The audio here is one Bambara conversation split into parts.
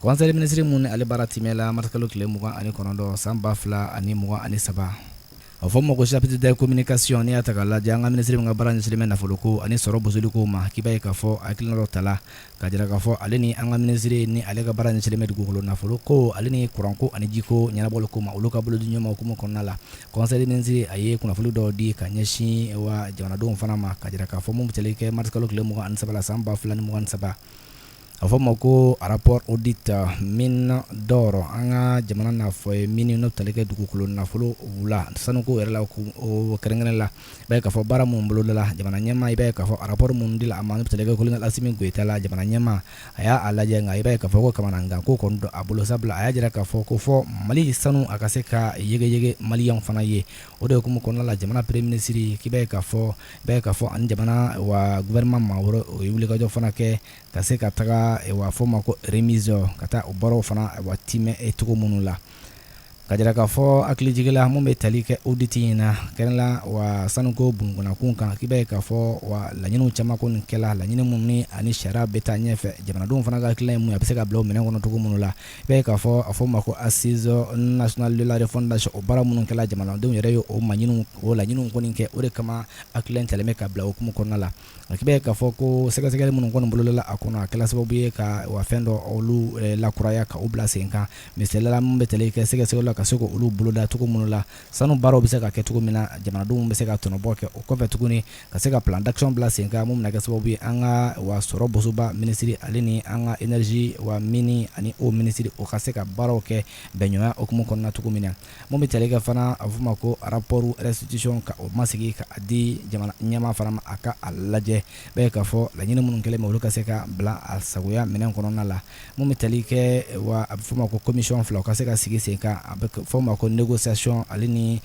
Kɔnse minisiri min ni ale baara timɛ la marisikalo tile mugan ani kɔnɔntɔn san ba fila ani mugan ani saba a fɔ ma ko chapitre de communication n' i y'a ta ka lajɛ an ka minisiri min ka baara ɲɛsinnen bɛ nafolo ko ani sɔrɔ bosoli ko ma k'i b'a ye k'a fɔ hakilina dɔ tala ka jira k'a fɔ ale ni an ka minisiri ni ale ka baara ɲɛsinnen bɛ dugukolo nafolo ko ale ni kuranko ani jiko ɲɛnabɔli ko ma olu ka bolo di ɲɔgɔn ma hukumu kɔnɔna la kɔnse minisiri a ye kunnafoni dɔw di ka ɲɛsin wa jamanadenw fana ma ka jira k'a fɔ mun bɛ tali kɛ marisikalo tile mugan ani saba la san ba fila ni mugan ni saba a fɔ ma ko rapport audit mines d'or an ka jamana n'a fɔ ye min n'o tali kɛ dugukolo nafolo wula sanuko yɛrɛ la kɛrɛnkɛrɛn la i b'a ye k'a fɔ baara minnu bolodala jamana ɲɛmaa i b'a ye k'a fɔ rapport min dila a ma n'o tali kɛ kolonɛl Asimi Goyita la jamana ɲɛmaa a y'a lajɛ nka i b'a ye k'a fɔ ko kamanagan ko kɔni don a bolo sabula a y'a jira k'a fɔ ko fɔ Mali sanu a ka se ka yegeyege maliyɛnw fana ye o de hukumu kɔnɔna la jamana premier minisiri k'i b'a ye k'a fɔ ani jamana wa gouvernement maa wɛrɛw ye wulikajɔ fana kɛ ka se ka taga wa fɔ ma ko remise ka taa o baaraw fana timɛ cogo minnu la ka jira k'a fɔ hakilijigin la minnu bɛ tali kɛ audit in na kɛrɛnla wa sanuko bunda kunkan k'i b'a ye k'a fɔ wa laɲiniw caman kɔni kɛla laɲini minnu ani sariya bɛ taa ɲɛfɛ jamanadenw fana ka hakilina ye min ye a bɛ se ka bila minɛn kɔnɔ cogo minnu la i b'a ye k'a fɔ a fɔ ma ko assises nationales de la refondation o baara minnu kɛla jamanadenw yɛrɛ ye o laɲiniw kɔni kɛ o de kama hakilina in talen bɛ ka bila o hukumu kɔnɔna la k'i b'a ye k'a fɔ ko sɛgɛsɛgɛli minnu kɔni bolodala a kɔnɔ a kɛla sababu ye ka wa fɛn dɔ olu lakuraya ka u bila sen kan misali la min bɛ tali kɛ sɛgɛsɛgɛli ka se k'olu boloda cogo minnu la sanu baaraw bɛ se ka kɛ cogo min na jamanadenw bɛ se ka tɔnɔbɔ kɛ o kɔfɛ tuguni ka se ka plan d'action bila sen kan min bɛna kɛ sababu ye an ka wa sɔrɔ bosoba minisiri ale ni an ka énergie wa mine ani eau minisiri o ka se ka baaraw kɛ bɛnɲɔgɔnya hukumu kɔnɔna na cogo min na Mun bɛ tali kɛ fana a bɛ f'o ma ko rapport restitution ka o masigi ka di jamana ɲɛmaa fana ma a ka a lajɛ i b'a ye k'a fɔ laɲini minnu kɛlen bɛ olu ka se ka bila a sagoya minɛn kɔnɔna la mun bɛ tali kɛ wa a bɛ f'o ma ko commission fila o ka se ka sigi sen kan a bɛ f'o ma ko négociation ale ni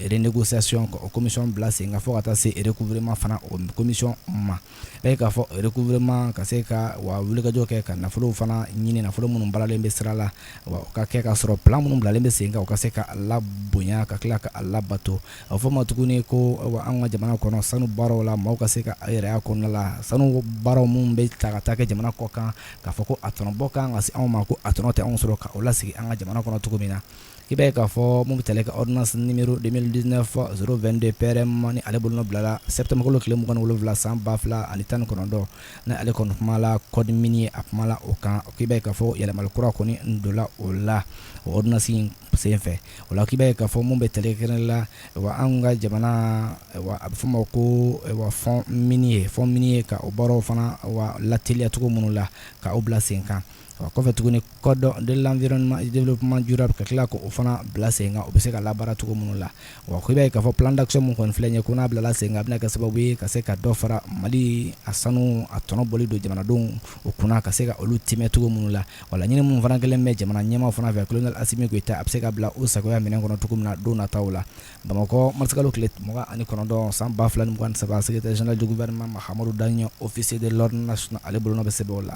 renégociation ka o commission bila sen kan fo ka taa se recouvrement fana o commission ma e k'a fɔ recouvrement ka se ka wa wulikajɔ kɛ ka nafolo fana ɲini nafolo minnu balalen bɛ sira la o ka kɛ ka sɔrɔ plan minnu bilalen bɛ sen kan u ka se ka a labonya ka tila ka a labato a fɔ ma tuguni ko an ka jamana kɔnɔ sanu baaraw la maaw ka se ka yɛrɛ kɔnɔna la sanu baaraw minnu bɛ ta ka taa kɛ jamana kɔ kan k'a fɔ ko a tɔnɔbɔ kan ka se anw ma ko a tɔnɔ tɛ anw sɔrɔ k' o lasigi an ka jamana kɔnɔ cogo min na i b'a ye k'a fɔ min bɛ tali kɛ ordonnance numéro 2019-022 PRM ni ale bolonɔ bilala septembre kalo tile 27 san 2019 ni ale kɔni kumala code minier a kumala o kan k'i b'a ye k'a fɔ yɛlɛmali kura kɔni donna o la o ordonnance in senfɛ o la k'i b'a ye k'a fɔ min bɛ tali kɛ kɛrɛnkɛrɛnnenya la wa anw ka jamana wa a bɛ fɔ o ma ko wa fond minier fond minier ka o baaraw fana wa lateliya cogo minnu la ka o bila senkan wa kɔfɛ tuguni code de l'environnement et du développement durable ka tila k' o fana bila sen kan u bɛ se ka labaara cogo minnu la wa k'i b'a ye k'a fɔ plan d'action min kɔni filɛ nin ye ko n'a bilala sen kan a bɛna kɛ sababu ye ka se ka dɔ fara mali a sanu a tɔnɔ bɔli don jamanadenw u kunna ka se ka olu timɛ cogo minnu la wa laɲini minnu fana kɛlen bɛ jamana ɲɛmaa fana fɛ colonel asimi goyita a bɛ se ka bila u sagoya minɛn kɔnɔ cogo min na don nataw la bamakɔ marsikalo tile mugan ani kɔnɔntɔn san ba fila ni mugan ni saba secrétaire général du gouvernement mahamadou dagno officier de l'ordre national ale bolo bɛ sɛbɛn la